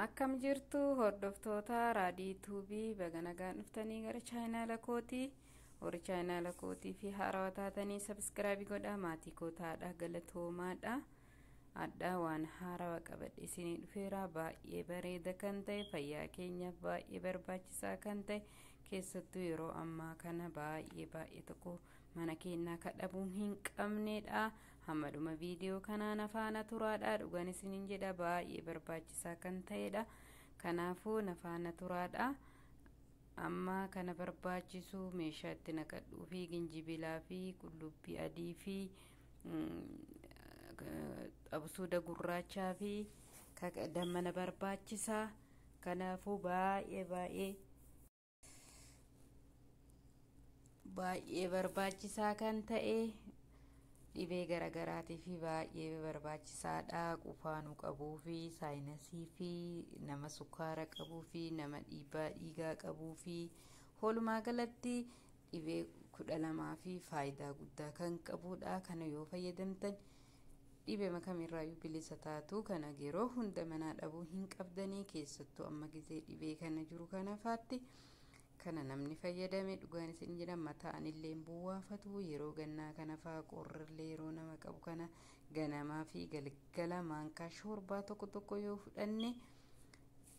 akkam jirtu hordoftoota raadii tuubii baga nagaan dhuftanii gara chaayinaala kootii warri chaayinaala kootii fi haarawaa taatanii sabiskiraabii godhaa maatii kootaadha galatoomaadha addaa waan haarawa qabadhe isinii dhufeera baay'ee bareeda kan ta'e fayyaa keenyaaf baay'ee barbaachisaa kan ta'e keessattuu yeroo ammaa kana baay'ee baay'ee tokko mana keennaa ka dhabuu hin qabneedha hamma dhuma viidiyoo kanaa na faana turaadha dhugaan isiniin jedha baay'ee barbaachisaa kan ta'eedha kanaafuu na faana turaadha amma kana barbaachisu meeshaa itti naqadhuu fi ginjibilaa fi qullubbii adii fi absuuda gurraachaa fi dammana barbaachisaa kanaafuu baay'ee baay'ee baay'ee barbaachisaa kan ta'e dhibee garaagaraatii fi baay'ee barbaachisaadha qufaanuu qabuu fi saayinasii fi nama sukkaara qabuu fi nama dhiibbaa dhiigaa qabuu fi walumaa galatti Dhibee 12 fi faayidaa guddaa kan qabuudha. Kana yoo fayyadamtan dhibema kamirraayyuu bilisa taatu. Kana yeroo hunda manaa dhabuu hin qabdanii keessattuu amma gizee dhibee kana jiru kana faatti. Kana namni fayyadame dhugaan isin jedha mataa anillee hin buwwaafatu yeroo gannaa kana faa qorrillee yeroo nama qabu kana ganamaa fi galgala maankaa shoorbaa tokko tokko yoo fudhanne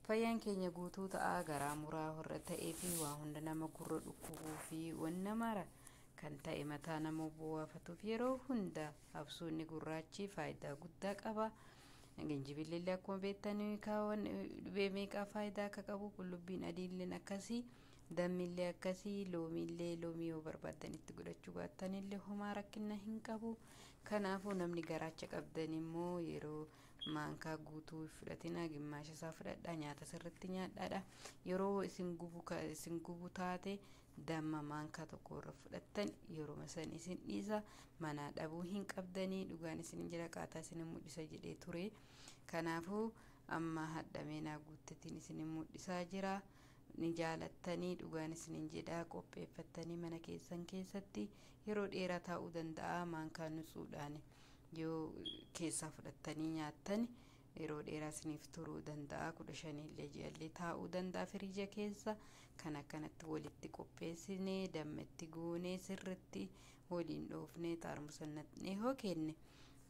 Fayyaan keenya guutuu ta'a, garaa muraa horra ta'ee fi waa hunda nama gurra dhukkubuu fi wanna mara kan ta'e mataa nama buwaafatuuf yeroo hunda habsuunni gurraachi faayidaa guddaa qaba. Ginjibilli akkuma beektan kaawwan dhibee meeqaa faayidaa akka qabu qullubbiin adiilleen akkasii dammillee akkasii loomiillee loomii yoo barbaaddan itti godhachuu baattanillee homaa rakkinna hin qabu. Kanaafuu namni garaacha qabdan immoo yeroo maankaa guutuu hin fudhatinaa gimmaasha isaa fudhadhaa nyaata sirritti nyaadhaadha yeroo isin gubu ka isin gubu taate damma maankaa tokko irra fudhattan yeruma san isin dhiisa manaa dhabuu hin qabdanii dhugaan isin hin jira qaataa isin hin mul'isa jedhee ture kanaafuu amma hadhamee naa guuttetiin isin hin mul'isaa jira ni jaalattanii dhugaan isin hin jedhaa qopheeffattanii mana keessan keessatti yeroo dheeraa taa'uu danda'a maankaa nutsuudhaani Yoo keessaa fudhattanii nyaattan yeroo dheeraa isiniif turuu danda'a. kudha shanillee ji'allee taa'uu danda'a firiija keessa. Kan akkanatti walitti qopheessinee dammetti guunee sirritti waliin dhoofnee xaarmusa naqnee hoo kenne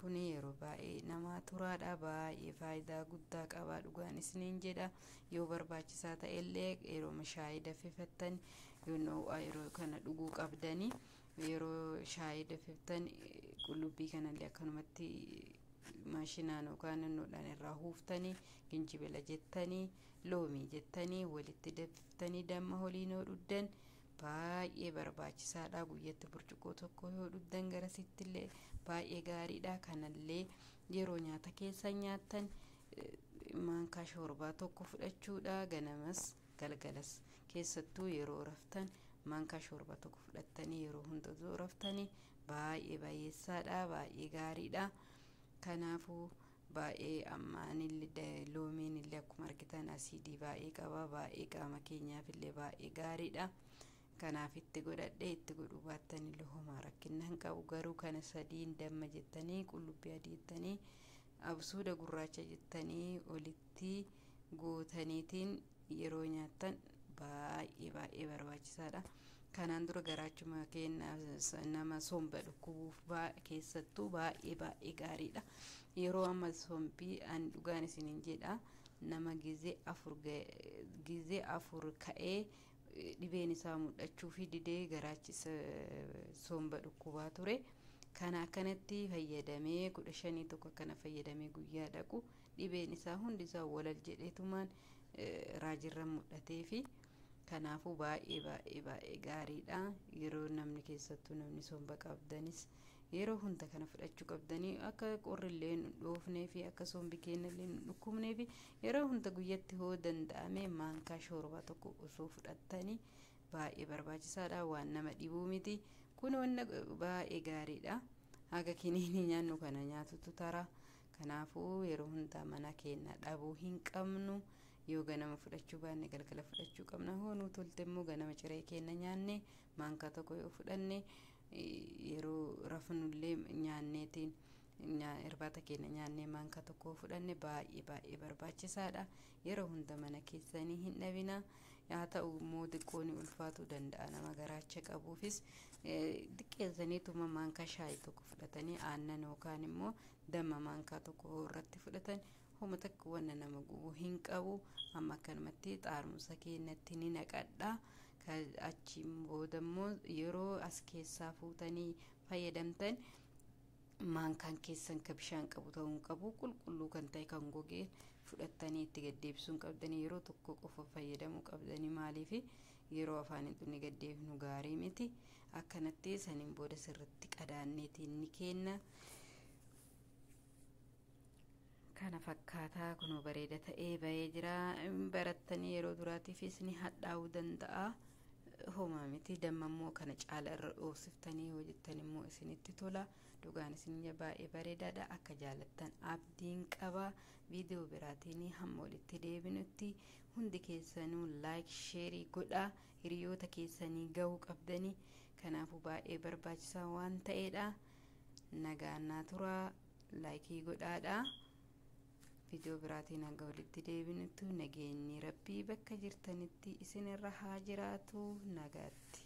kun yeroo baay'ee namaa turaadha. Baay'ee faayidaa guddaa qaba dhugaan isiniin jedha. Yoo barbaachisaa ta'ellee yeroo shaayii daffifattan yoo noo'aa yeroo kana dhuguu qabdanii Yeroo shaayii dafiftan qullubbii kanallee akkanumatti maashinaan yookaan nannoodhaan irraa huuftanii ginjibila jettanii loomii jettanii walitti dafiftanii damma holiin yoo dhuddan baay'ee barbaachisaadha guyyatti burcuqqoo tokko yoo dhuddan garasittillee baay'ee gaariidha kanallee yeroo nyaata keessan nyaattan maankaa shoorbaa tokko fudhachuudha ganamas Galgalas, keessattuu yeroo raftan manka shorba tokko fudhattanii yeroo hunda osoo raftanii baay'ee baay'eessaadha, baay'ee gaariidha. Kanaafuu baay'ee ammaanillee loomiin illee akkuma argitan asiidii baay'ee qaba, baay'ee qaama keenyaaf illee baay'ee gaariidha. Kanaaf itti godhadhe itti godhuu baattan illee homaa rakkinna hin qabu garuu kana sadiin damma jettanii qullubbii adii jettanii Absuuda gurraacha jettanii olitti gootaniitiin yeroo nyaattan baay'ee baay'ee barbaachisaadha. Kanaan dura garaachuma keenya nama somba dhukkubuuf keessattuu baay'ee baay'ee gaariidha. Yeroo amma sombii an dhugaan isiniin jedha nama gizee afur gizee afur ka'ee Dhibeen isaa mudhachuufi didee garaachi isa somba dhukkubaa ture. Kana akkanatti fayyadamee kudha shanii tokko akkana fayyadamee guyyaa dhaqu dhibeen isaa hundi isaa walal jedheetumaan raajirra mudhateefi kanaafuu baay'ee baay'ee baay'ee gaariidha. Yeroo namni keessattuu namni somba qabdanis yeroo hunda kana fudhachuu qabdanii akka qorrillee nu dhoofneefi akka sombi keenyallee nu dhukkubneefi Yeroo hunda guyyatti hoo danda'amee maankaa shoorbaa tokko osoo fudhattani baay'ee barbaachisaadha waan nama dhibuu miti kun wanna baay'ee gaariidha haga kiniinii nyaannu kana nyaatutu tara kanaafuu yeroo hundaa mana keenya dhabuu hin qabnu yoo ganama fudhachuu baanne galgala fudhachuu qabna hoo nuu tolte immoo ganama ciree keenya nyaanne maankaa tokko yoo fudhanne yeroo rafnullee nyaanneetiin Irbaata keenya nyaannee maankaa tokko fudhanne baay'ee baay'ee barbaachisaadha. Yeroo hunda mana keessanii hin dhabina. Haa ta'u immoo xiqqoo ni ulfaatuu danda'a nama garaacha qabuufis xiqqeessaniituma maankaa shaayii tokko fudhatanii aannan yookaan immoo damma maankaa tokko irratti fudhatan homa takka wanna nama gubu hin qabu amma akkanumatti xaarmusa keenyatti ni naqadha. Achiin booda immoo yeroo as keessaa fuutanii fayyadamtan Maankaan keessan ka bishaan qabu ta'uu hin qabu, qulqulluu kan ta'e kan goge fudhattanii itti gad deebisuu hin qabdanii, yeroo tokko qofa fayyadamuu qabdanii, maaliif yeroo afaan hin dhunne gad deebifnu gaarii miti, akkanatti saniin booda sirritti qadaanneeti inni keenna. kana fakkaataa kunoo bareeda ta'ee ba'ee jira barattanii yeroo duraatiifis ni hadhaa'uu danda'a homaa miti damma immoo kana caala irra dhoofsiftanii hojjettan immoo isinitti tola dhugaan isin baay'ee bareedaadha akka jaalattan abdiin qaba viidiyoo biraatiin hamma walitti deebinutti hundi keessanuu laayik sheerii godhaa hiriyoota keessanii ga'uu qabdanii kanaafuu baay'ee barbaachisaa waan ta'eedha nagaan naa turaa Laayikii godhaadha. Viidiyoo biraatiin hanga walitti deebinutti nageenyi rabbii bakka jirtanitti isinirra haa jiraatu nagaatti.